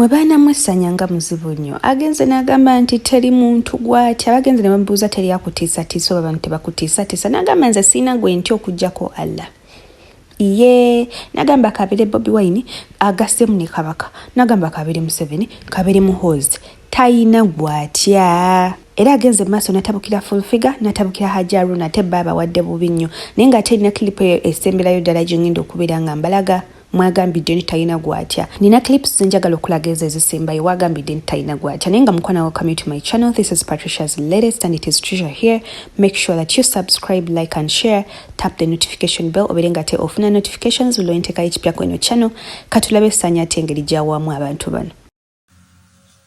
mwe baana mwe sanya nga muzibu nnyo agenze n'agamba nti teri muntu gwati abagenze ne bamubuuza teri akutiisatiisa oba bantu tebakutiisatiisa n'agamba nze siina gwe nti okugyako allah iye nagamba kabire bobi wine agasemu ne kabaka nagamba kabire museveni kabire muhozi tayina gwatya era agenze mu maaso natabukira fulfiga natabukira hajaruna te baaba wadde bubi nnyo naye nga ate erina kilipo eyo esemberayo ddala gyengenda okubeera nga mbalaga mwagambidde nti talina gwatya nina clips zenjagala okulaga ezo ezisembayo wagambidde nti talina gwatya naye nga mukwana wo come to my channel this is patricia's latest and it is treasure here make sure that you subscribe like and share tap the notification bell obere nga te ofuna notifications buli lwentekayo ekipya kweno channel katulabe sanya ate engeri gyawamu abantu bano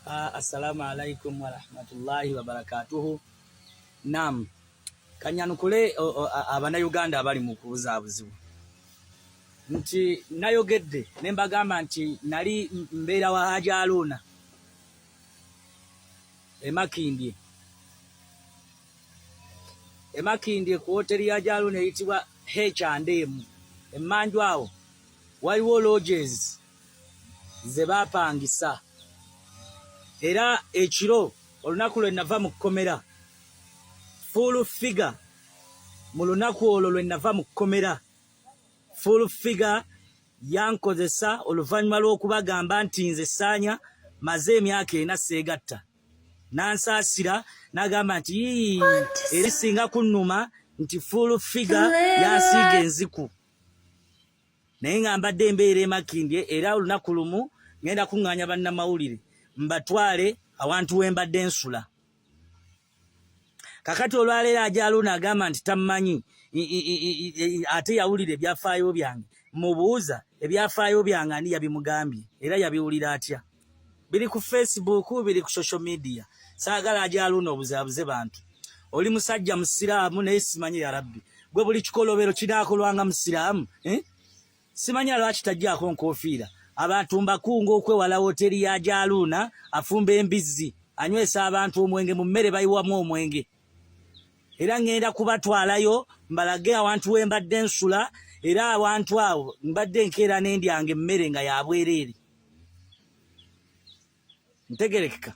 Ah, assalamu alaikum warahmatullahi wabarakatuhu. Naam, kanyanukule abanauganda abali mu kubuzaabuzibu nti nayogedde ne mbagamba nti nali mbeera wa Haji Aluuna emakindye emakindye ku woteri ya Jaluuna eyitibwa H and M emmanju awo waliwo lodges ze baapangisa era ekiro olunaku lwe nava mu kkomera fuulu figa mu lunaku olwo lwe nava mu kkomera fuulu figa yankozesa oluvannyuma lw'okubagamba nti nze saanya maze emyaka ena seegatta n'ansaasira n'agamba nti yii erisinga kunnuma nti fuulu figa yansiiga enziku naye nga mbadde embeera emakindye era olunaku lumu ngenda kuŋŋaanya bannamawulire mbatwale awantu we mbadde nsula kakati olwaleero ajaluuna agamba nti tammanyi ate yawulira ebyafaayo byange mubuuza ebyafaayo byange ani yabimugambye era yabiwulira atya biri ku facebook biri ku social media saagala ajaluno obuzabuze bantu oli musajja musiraamu naye simanyi ya rabbi gwe buli kikolobero kinakolwanga musiraamu eh? simanyi alwaki tajjako nkofiira abantu mbakunga okwewala woteri ya jaluuna afumba embizzi anywesa abantu omwenge mu mmere bayiwamu omwenge era ŋŋenda kubatwalayo mbalage awantu we mbadde nsula era awantu awo mbadde nkeera n'endyanga emmere nga yabwereere ntegerekeka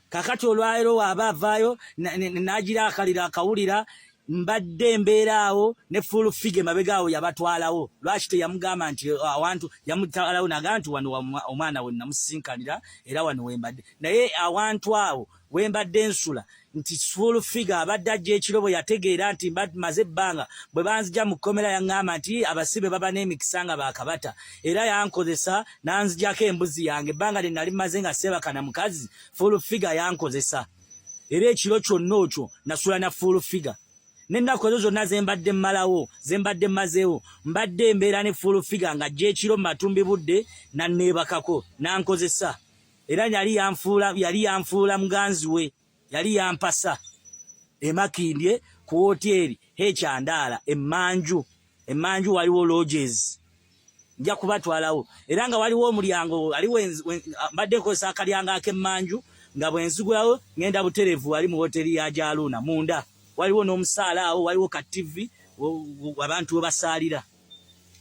kakati olwaliro waaba avaayo n'agira akaliro akawulira mbadde embeera awo ne full fige mabega awo yabatwalawo lwaki teyamugamba nti oh, awantu yamutwalawo naga nti wano omwana we namusisinkanira era wano wembadde naye awantu awo we mbadde nsula nti full figure abadde ajja ekiro bwe yategeera nti maze ebbanga bwe banzija mu kkomera yaŋŋamba nti abasibe baba n'emikisa nga baakabata era yankozesa n'anzijako embuzi yange ebbanga lye nali maze nga seebaka na mukazi full figure yankozesa era ekiro kyonna okyo nasula na full figure n'ennaku ezo zonna ze mbadde mmalawo ze mbadde mmazeewo mbadde embeera ne full figure ng'ajja ekiro mu matumbi budde n'anneebakako n'ankozesa era yali yanfuula yali yanfuula muganzi we yali yampasa emakindye ku woteeri hekyandaala emmanju emmanju waliwo lodges nja kubatwalawo era nga waliwo omulyango ali mbadde nkozesa akalyango ak'emmanju nga bwenzigulawo ngenda buterevu wali mu woteeri ya gyaluuna munda waliwo n'omusaala awo waliwo ka tivi abantu webasaalira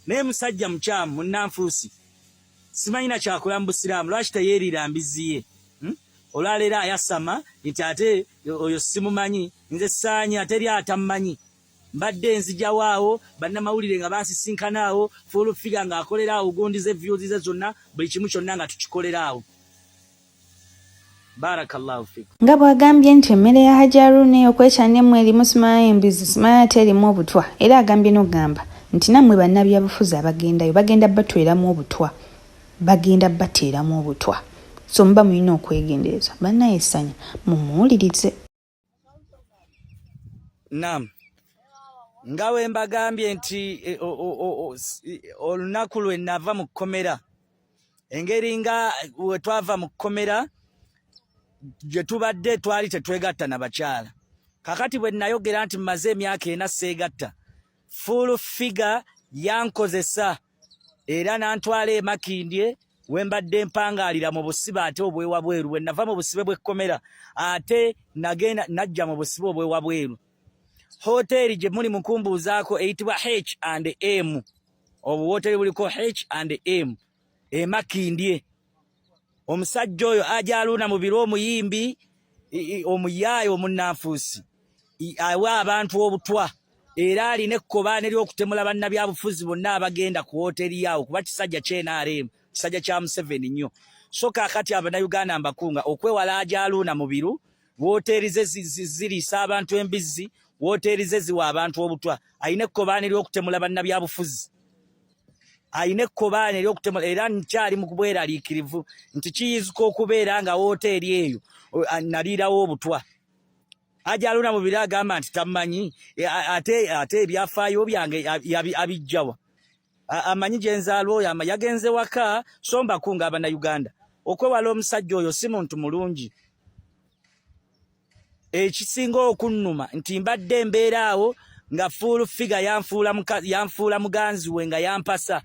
naye musajja mukyamu munanfuusi simanyi na kyakola mu busiraamu lwaki teyeeriira mbizzi ye hmm? olwaleero ayasama nti ate oyo simumanyi nze saanya teri atammanyi mbadde nzijawo awo bannamawulire nga bansisinkana awo fuulufiga ng'akolera awo gundi ze vyuzi ze zonna buli kimu kyonna nga tukikolera awo nga bw'agambye nti emmere ya hajji aruuna ey'okwekyana emu erimu simaya embizi simaya ate erimu obutwa era agambye n'okugamba nti nammwe bannabyabufuzi abagendayo bagenda batweramu obutwa bagenda bateeramu obutwa so muba mulina okwegendereza bannaye essanya mumuwulirize Naam. Nga we mbagambye nti e, olunaku lwe nava mu kkomera engeri nga we twava mu kkomera gye tubadde twali tetwegatta na bakyala kakati bwe nayogera nti mmaze emyaka ena seegatta full figure yankozesa era n'antwala e Makindye we mbadde mpangaalira mu busibe ate obwewabweru bwe nava mu busibe bw'ekkomera ate nagenda najja mu busibe obwewabweru hoteeri gye muli mukumbuuzaako eyitibwa h and m obuwoteeri buliko h and m e Makindye omusajja oyo ajaluuna mu biro omuyimbi omuyaaye omunnanfuusi awa abantu obutwa era alina ekkobaane ery'okutemula bannabyabufuzi bonna abagenda ku wooteeri yaawo kuba kisajja kye nrm kisajja kya museveni nnyo so kaakati abanayuganda mbakunga okwewala ajaluuna mu biru wooteeri ze ziriisa abantu embizzi wooteeri ze ziwa abantu obutwa alina ekkobaane ery'okutemula bannabyabufuzi alina ekkobaane ery'okutemula era nkyali mu kubweraliikirivu nti kiyinzika okubeera nga wooteeri eyo naliirawo obutwa ajaluna mu biro agamba nti tamanyi e, ate ate ebyafaayo byange abijjawa amanyi gye nzaalwa oyo ama yagenze waka so mbakunga abannayuganda okwewala omusajja oyo si muntu mulungi ekisinga okunnuma nti mbadde embeera awo nga fuulu figa yanfuula muganzi we nga yampasa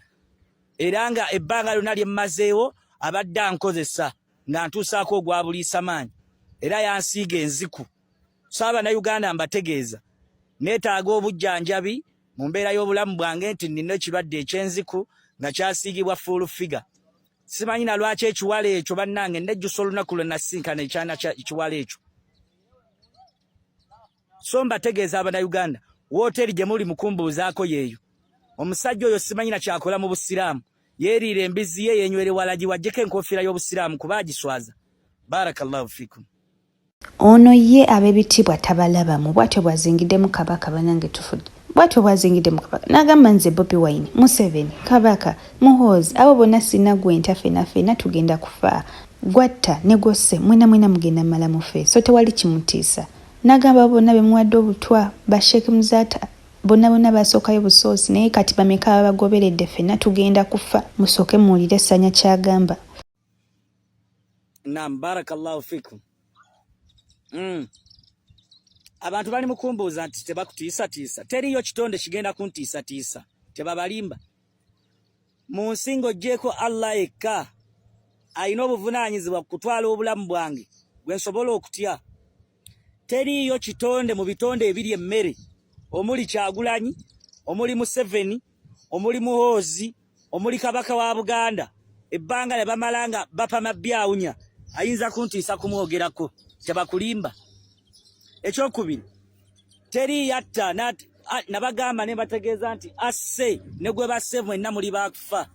era nga ebbanga lyonna lye mmazeewo abadde ankozesa nga ntuusaako ogwa buliisamaanyi era yansiiga enziku so abanauganda mbategeeza neetaaga obujjanjabi mu mbeera y'obulamu bwange nti nnina ekirwadde eky'enziku nga kyasiigibwa fuulu figa Simanyi na lwaki ekiwala ekyo bannange nejjusa olunaku lwe nasinkana ekyana ekiwala ekyo. So mbategeeza Abannayuganda, wooteeri gye muli mukumbuuzaako yeeyo. Omusajja oyo simanyi na kyakola mu Busiraamu. Yeeriira embizzi ye, yeenywere walagi waggyeko enkofiira y'Obusiraamu kuba agiswaza. Barakallahu fikum. Ono ye abebitiibwa tabalabamu bwatyo bwazingidemu kabaka banange tufudde bwatyo bwazingidemu kabaka nagamba nze bobi wine museveni kabaka muhoozi abo bonna sina gwenta fena fena tugenda kufaa gwatta ne gwosse mwena mwena mugenda mala mufee so tewali kimutiisa nagamba abo bonna bemuwadde obutwa ba sheik muzata bonna bonna basookayo busoosi naye kati bameka ababagoberedde fena tugenda kufa musooke muwulire sanya kyagamba. Naam, barakallahu fikum. Mm. Abantu bali mukumbuuza nti tebakutiisatiisa. Teriyo kitonde kigenda kuntiisatiisa. Tebabalimba. Mu nsi ng'oggyeeko Allah yekka alina obuvunaanyizibwa ku kutwala obulamu bwange gwe nsobola okutya. teriiyo kitonde mu bitonde ebiri emmere omuli kyagulanyi omuli museveni omuli muhoozi omuli kabaka wa buganda ebbanga lye bamala nga bapama byawunya ayinza kuntiisa kumwogerako tebakulimba ekyokubiri teri yatta nabagamba ne bategeeza nti asse ne gwe basse mwenna muli bakufa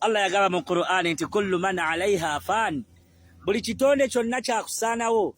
allah yagamba mu qur'ani nti kullu man alaiha fan buli kitonde kyonna kyakusaanawo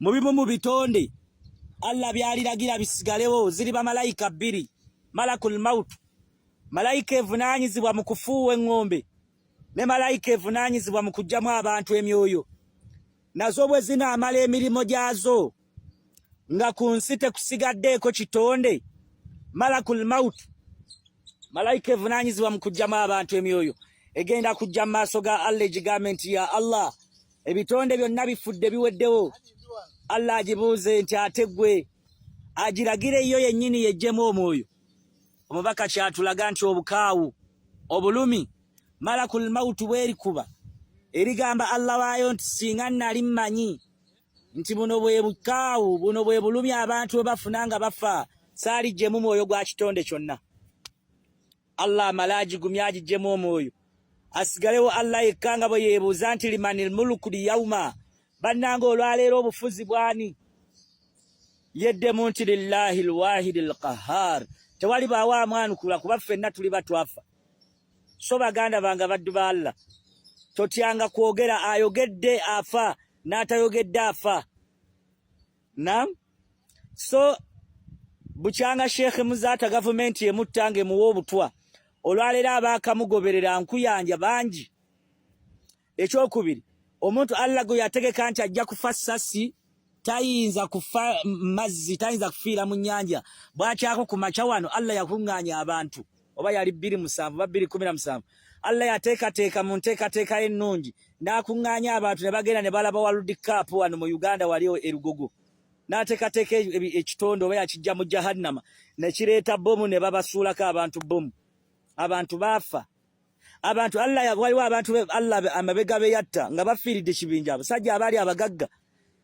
Mu bimu mu bitonde Allah byaliragira bisigalewo ziri bamalayika bbiri, malakul maut, malayika evunaanyizibwa mu kufuuwa eŋŋombe ne malayika evunaanyizibwa mu kuggyamu abantu emyoyo. Nazo bwe zinaamala emirimu gyazo nga ku nsi tekusigaddeeko kitonde, malakul maut, malayika evunaanyizibwa mu kuggyamu abantu emyoyo egenda kujja mu maaso ga Allah egigambe nti ya Allah ebitonde byonna bifudde biweddewo allah agibuuze nti ate gwe agiragire yo yennyini yejjemu omwoyo omubaka kyatulaga nti obukaawu obulumi malakul mautu bwerikuba erigamba allah waayo nti singa nali mmanyi nti buno bwe bukaawu buno bwe bulumi abantu bwe bafuna nga bafa saalijjemu mwoyo gwa kitonde kyonna Allah amale agigumye agijjemu omwoyo asigalewo Allah yekka nga bwe yeebuuza nti limanil muluku liyauma bannanga olwaleero obufuzi bwani yeddemu nti lillahi lwahidi lqahar tewali baawo amwanukula kuba ffenna tuli batwafa so baganda bange abaddu ba Allah totyanga kwogera ayogedde afa n'atayogedde afa Naam. So bukyanga Sheikh Muzaata gavumenti emutta ng'emuwa obutwa olwaleero abaakamugoberera nkuyanja bangi. Ekyokubiri omuntu Allah gwe yategeka nti ajja kufa ssasi tayinza kufa mazzi tayinza kufiira mu nnyanja bwakyako ku makya wano Allah yakuŋŋaanya abantu. oba yali bbiri musanvu oba bbiri kumi na musanvu allah yateekateeka mu nteekateeka ye ennungi n'akuŋŋaanya abantu ne bagenda ne balaba waludi kaapu wano mu uganda wali erugogo n'ateekateeka ekitonde oba yakijja mu jahannama ne kireeta bbomu ne babasuulako abantu bbomu abantu baafa abantu allah waliwo abantu allah amabega be yatta nga bafiiridde kibinja abasajja abaali abagagga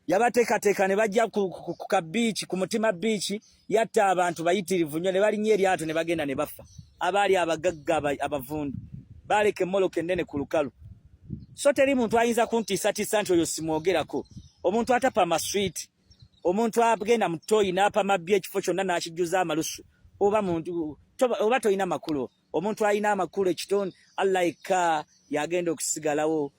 yabateekateeka ne bajja ku ka biiki ku mutima biiki yatta abantu bayitirivu nnyo ne balinnya eryato ne bagenda ne bafa abaali abagagga abavundu baaleka emmoloka ennene ku lukalu so teri muntu ayinza kuntiisatiisa nti oyo simwogerako omuntu atapa amaswiiti omuntu agenda mu toyi n'apama bbi ekifo kyonna n'akijjuza amalusu oba muntu oba tolina makulu omuntu alina amakulu ekitonde allah yekka yagenda okusigalawo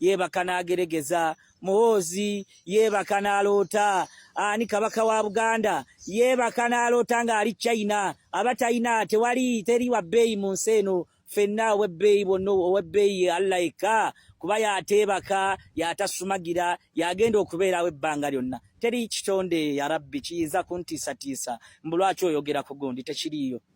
yeebaka n'ageregeza muhoozi yeebaka n'aloota ani kabaka wa buganda yeebaka n'aloota ng'ali china aba talina tewali teri wa bbeeyi mu nsi eno fenna ow'ebbeeyi bwonna ow'ebbeeyi allah yekka kuba yateebaka yatasumagira yagenda okubeerawo ebbanga lyonna teri kitonde ya rabbi kiyinza kuntiisatiisa mbu lwaki oyogera ku gundi tekiriiyo